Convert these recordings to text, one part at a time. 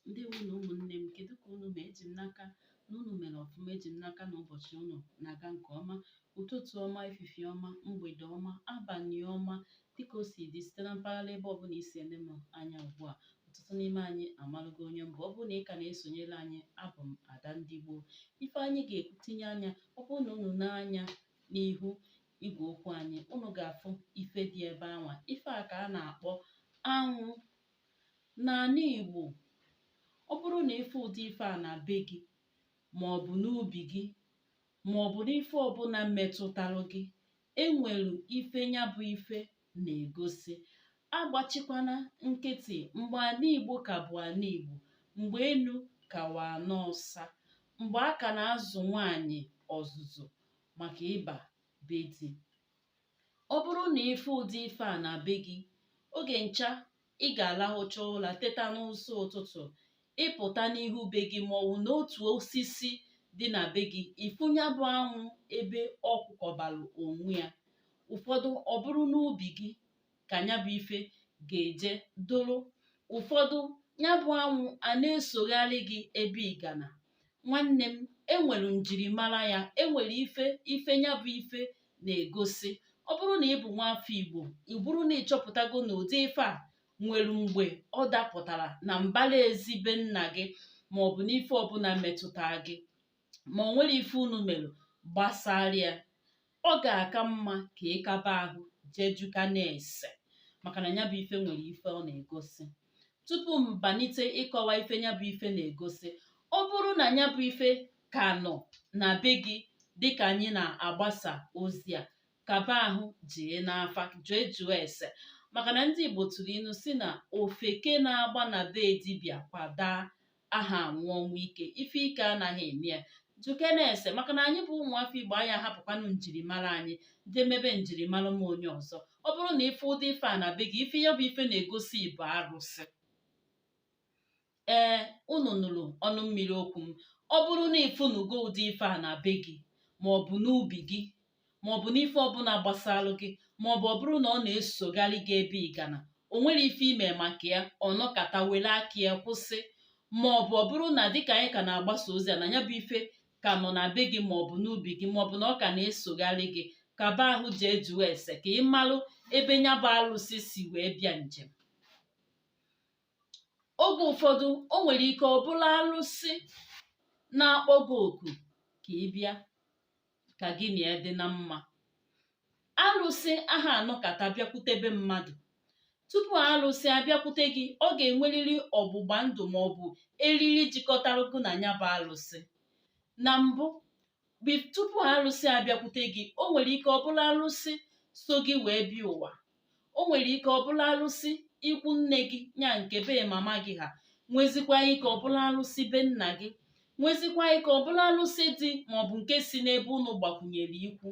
ndewonụ ụmụnne m kedu ka unu mee eji m n'aka na unu mere ọfụma eji m n'aka na ụbọchị unu na-aga nke ọma ụtụtụ ọma efifie ọma mgbede ọma abalị ọma dịka o si dị site na mpaghara ebe ọbụla i si ele m anya ugbu a ọtụtụ n'ime anyị amalụgo onye m bụ ọ bụrụ na ị ka na-esonyere anyị abụ m ada ndị gboo ife anyị ga-etinye anya ọ bụrụ na unu nee anya n'ihu igwe okwu anyị unu ga-afụ ife dị ebe anwa ife a ka a na-akpọ anwụ n'ala Igbo ọ bụrụ na ị fụ ụdị ife a na be gị ma ọ bụ n'ubi gị ma ọ bụ n'ife ọbụla metụtara gị enwere ife nya bụ ife na-egosi agbachikwana nkịtị mgbe ala Igbo ka bụ ala Igbo mgbe enu ka wụ ana ọsa mgbe a ka na-azụ nwaanyị ọzụzụ maka ịba be di ọ bụrụ na ị fụ ụdị ife a na be gị oge ncha ị ga-alahụcha ụla teta n'ụsọ ụtụtụ ị pụta n'ihu be gị ma ọwụ n'otu osisi dị na be gị ị fụ nya bụ anwụ ebe ọ kwụkọbalụ onwe ya ụfọdụ ọ bụrụ n'ubi gị ka nya bụ ife ga-eje doro ụfọdụ nya bụ anwụ a na-esogharị gị ebe ị gana nwanne m enwere njirimara ya enwere ife ife nya bụ ife na-egosi ọ bụrụ na ị bụ nwa afọ igbo ị bụrụ na ị chọpụtago na ụdị ife a nwere mgbe ọ dapụtara na mbara ezi be nna gị ma ọ bụ n'ife ọbụla metụta gị ma o nwerọ ife unu mere gbasara ya ọ ga-aka mma ka ị kaba ahụ jee jụkene ese maka na nya bụ ife nwere ife ọ na-egosi tupu m banite ịkọwa ife nya bụ ife na-egosi ọ bụrụ na nya bụ ife ka nọ na be gị dịka anyị na-agbasa ozi a kaba ahụ jee n'afa jee jụọ ese maka na ndị Igbo tụrụ ilu sị na ofeke na-agba na be dibịa kwa daa aha anwụ ọnwụ ike ife ike anaghị eme ya jụkene ese maka na anyị bụ ụmụafọ igbo anyị ahapụkwanụ njirimara anyị jee mebe njirimara m onye ọzọ ọ bụrụ na ị fụ ụdị ife a na be gị ife ya bụ ife na-egosi bụ arụsị ee unu nụrụ ọnụ mmiri okwu m ọ bụrụ na ị fụnugo ụdị ife a na be gị ma ọ bụ n'ubi gị maọbụ n'ife ọbụla gbasalụ gị maọbụ ọ bụrụ na ọ na-esogharị gị ebe ị gana o nwerọ ife i me maka ya ọ nọkata were aka ya kwụsị maọbụ ọ bụrụ na dịka anyị ka na-agbasa ozi a na nya bụ ife ka nọ na be gị maọbụ n'ubi gị maọbụ na ọ ka na-esogharị gị kaba ahụ jee jụọ ese ka ị malụ ebe nya bụ arụsị si wee bịa njem oge ụfọdụ o nwere ike ọ bụrụ arụsị na-akpọ gị oku ka ị bịa ka gị na ya dị na mma arụsị aha anọkata bịakwutebe mmadụ tupu arụsị abịakwute gị ọ ga-enwerịrị ọgbụgba ndụ ma ọ bụ eriri jikọtara gị na nya bụ arụsị na mbụ bi- tupu arụsị abịakwute gị o nwere ike ọ bụrụ arụsị so gị wee bịa ụwa o nwere ike ọ bụrụ arụsị ikwu nne gị nya nke be mama gị ha nwezikwa ike ọ bụrụ arụsị be nna gị nwezikwa ike ọ bụrụ arụsị dị maọbụ nke si n'ebe unu gbakwunyere ikwu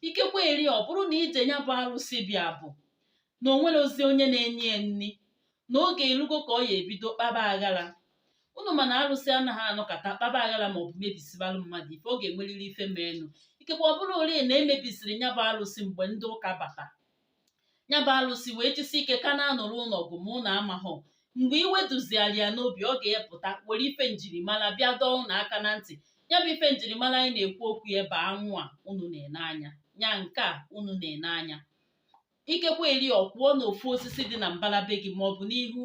ikekwe eri ọ bụrụ na ije nya bụ arụsị bịa bụ na o nwerọzi onye na-enye ya nri na oge erugo ka ọ ya ebido kpaba aghara unu ma na arụsị anaghị anọkata kpaba aghara ma ọ bụ mebisibalụ mmadụ ife ọ ga-enwerịrị ife meenụ ikekwe ọ bụrụ ori na e mebisiri ya bụ arụsị mgbe ndị ụka bata ya bụ arụsị wee jisi ike ka na-anụrụ ụnụ ọgụ ma ụnụ amahụ mgbe iwe duziara ya n'obi ọ ga-epụta were ife njirimara bịa dọọ ụnụ aka na ntị ya bụ ife njirimara anyị na-ekwu okwu ya bụ anwụ a unu na-ene anya ya nke a unu na-ene anya ikekwe eri ọ kwụọ na ofu osisi dị na mbara be gị maọbụ n'ihu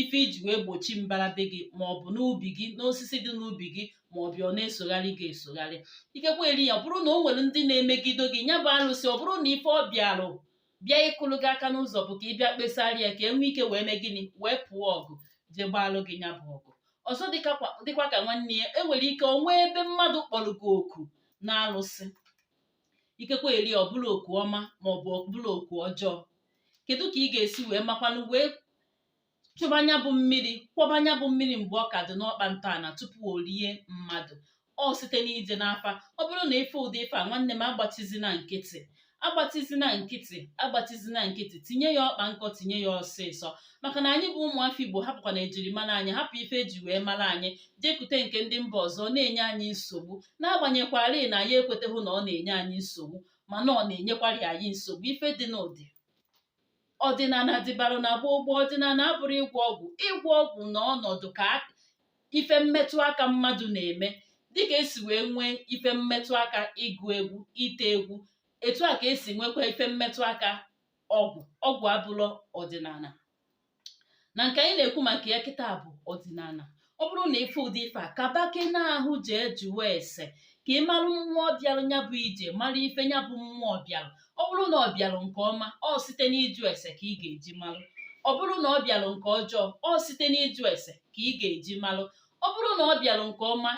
ife e ji wee gbochi mbara be gị maọbụ n'ubi gị n'osisi dị n'ubi gị maọbụ ọ na-esogharị gị esogharị ikekwe eri ya ọ bụrụ na o nwere ndị na-emegido gị nya bụ arụsị ọ bụrụ na ife ọ bịarụ bịa ịkụrụ gị aka n'ụzọ bụ ka ị bịa kpesara ya ka e nwee ike wee mee gịnị wee pụọ ọgụ jee gbaalụ gị nya bụ ọgụ ọzọ dịkwa ka nwanne ya e nwere ike o nwee ebe mmadụ kpọrọ gị oku na arụsị ikekwe eri ọ bụrụ oku ọma ma ọ bụ ọ bụrụ oku ọjọọ kedu ka ị ga-esi wee makwanụ wee chụba nya bụ mmiri kwọba nya bụ mmiri mgbe ọ ka dị n'ọkpa ntọala tupu o rie mmadụ ọ site n'ije n'afa ọ bụrụ na ife ụdị ife a nwanne m agbatizina nkịtị agbatizina nkịtị agbatizina nkịtị tinye ya ọkpa nkọ tinye ya ọsịsọ maka na anyị bụ ụmụafọ igbo hapụkwa na ejirimara anyị hapụ ife eji wee mara anyị jekute nke ndị mba ọzọ na-enye anyị nsogbu n'agbanyekwarọ na anyị ekweteghị na ọ na-enye anyị nsogbu mana ọ na-enyekwarị anyị nsogbu ife dị n'ụdị ọdịnala dịbara na gboo gboo ọdịnala abụrọ ịgwọ ọgwụ ịgwọ ọgwụ na ọnọdụ ka ife mmetụ aka mmadụ na-eme dịka esi wee nwee ife mmetụ aka ịgụ egwu ite egwu etu a ka esi nwekwa ife mmetụ aka ọgwụ ọgwụ abụrọ ọdịnala na nke anyị na-ekwu maka ya kịta bụ ọdịnala ọ bụrụ na ife ụdị ife a kaba gị n'ahụ jee jụọ ese ka ị marụ mmụọ bịarụ nya bụ ije mara ife nya bụ mmụọ bịarụ ọ bụrụ na ọ bịarụ nke ọma ọ site n'ịjụ ese ka ị ga-eji marụ ọ bụrụ na ọ bịarụ nke ọjọọ ọ site n'ịjụ ese ka ị ga-eji marụ ọ bụrụ na ọ bịarụ nke ọma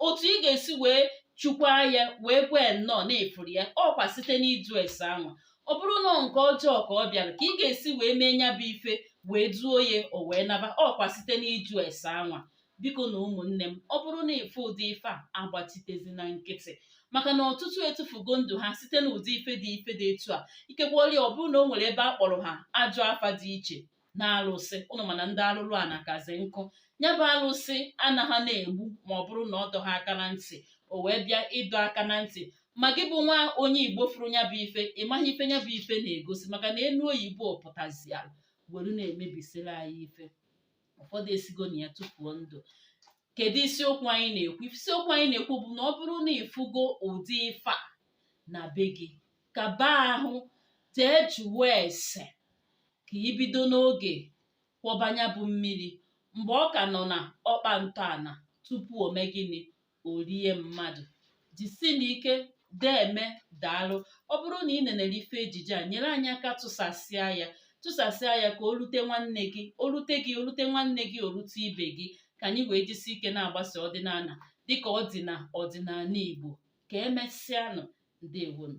otu ị ga-esi wee chukwaa ya wee gwa ya nnọọ na ị fụrụ ya ọkwa site n'ịjụ ese anwa ọ bụrụ na nke ọjọọ ka ọ bịara ka ị ga-esi wee mee ya bụ ife wee duo ya o wee naba ọkwa site n'ịjụ ese anwa bikonụ ụmụnne m ọ bụrụ na ị fụ ụdị ife a agbachitezina nkịtị maka na ọtụtụ etufugo ndụ ha site n'ụdị ife dị ife dị etu a ikekwọlị ọ bụrụ na o nwere ebe a kpọrọ ha ajọ afa dị iche na alụsị ụnụ ma na ndị alụlụana kazi nkụ ya bụ alụsị anaghị na-egbu ma ọ bụrụ na ọ dọghị aka na ntị o wee bịa ịdọ aka na ntị ma gị bụ nwa onye igbo fụrụ ya bụ ife ị maghị ife ya bụ ife na-egosi maka na enu oyibo pụtaziara were na-emebisiri anyị ife ụfọdụ esigo na ya tufuo ndụ kedu isiokwu anyị na-ekwu isiokwu anyị na-ekwu bụ na ọ bụrụ na ị fụgo ụdị ife a na be gị kaba ahụ jee jụọ ese ka i bido n'oge kwọba nya bụ mmiri mgbe ọ ka nọ na ọkpa ntọala tupu o mee gịnị o rie mmadụ jisinụ ike deme daalụ ọ bụrụ na ị nenere ife ejije a nyere anyị aka tụsasịa ya tụsasịa ya ka o rute nwanne gị o rute gị o rute nwanne gị o rute ibe gị ka anyị wee jisi ike na-agbasa ọdịnala dịka ọ dị na ọdịnala Igbo ka emesịanụ ndewonu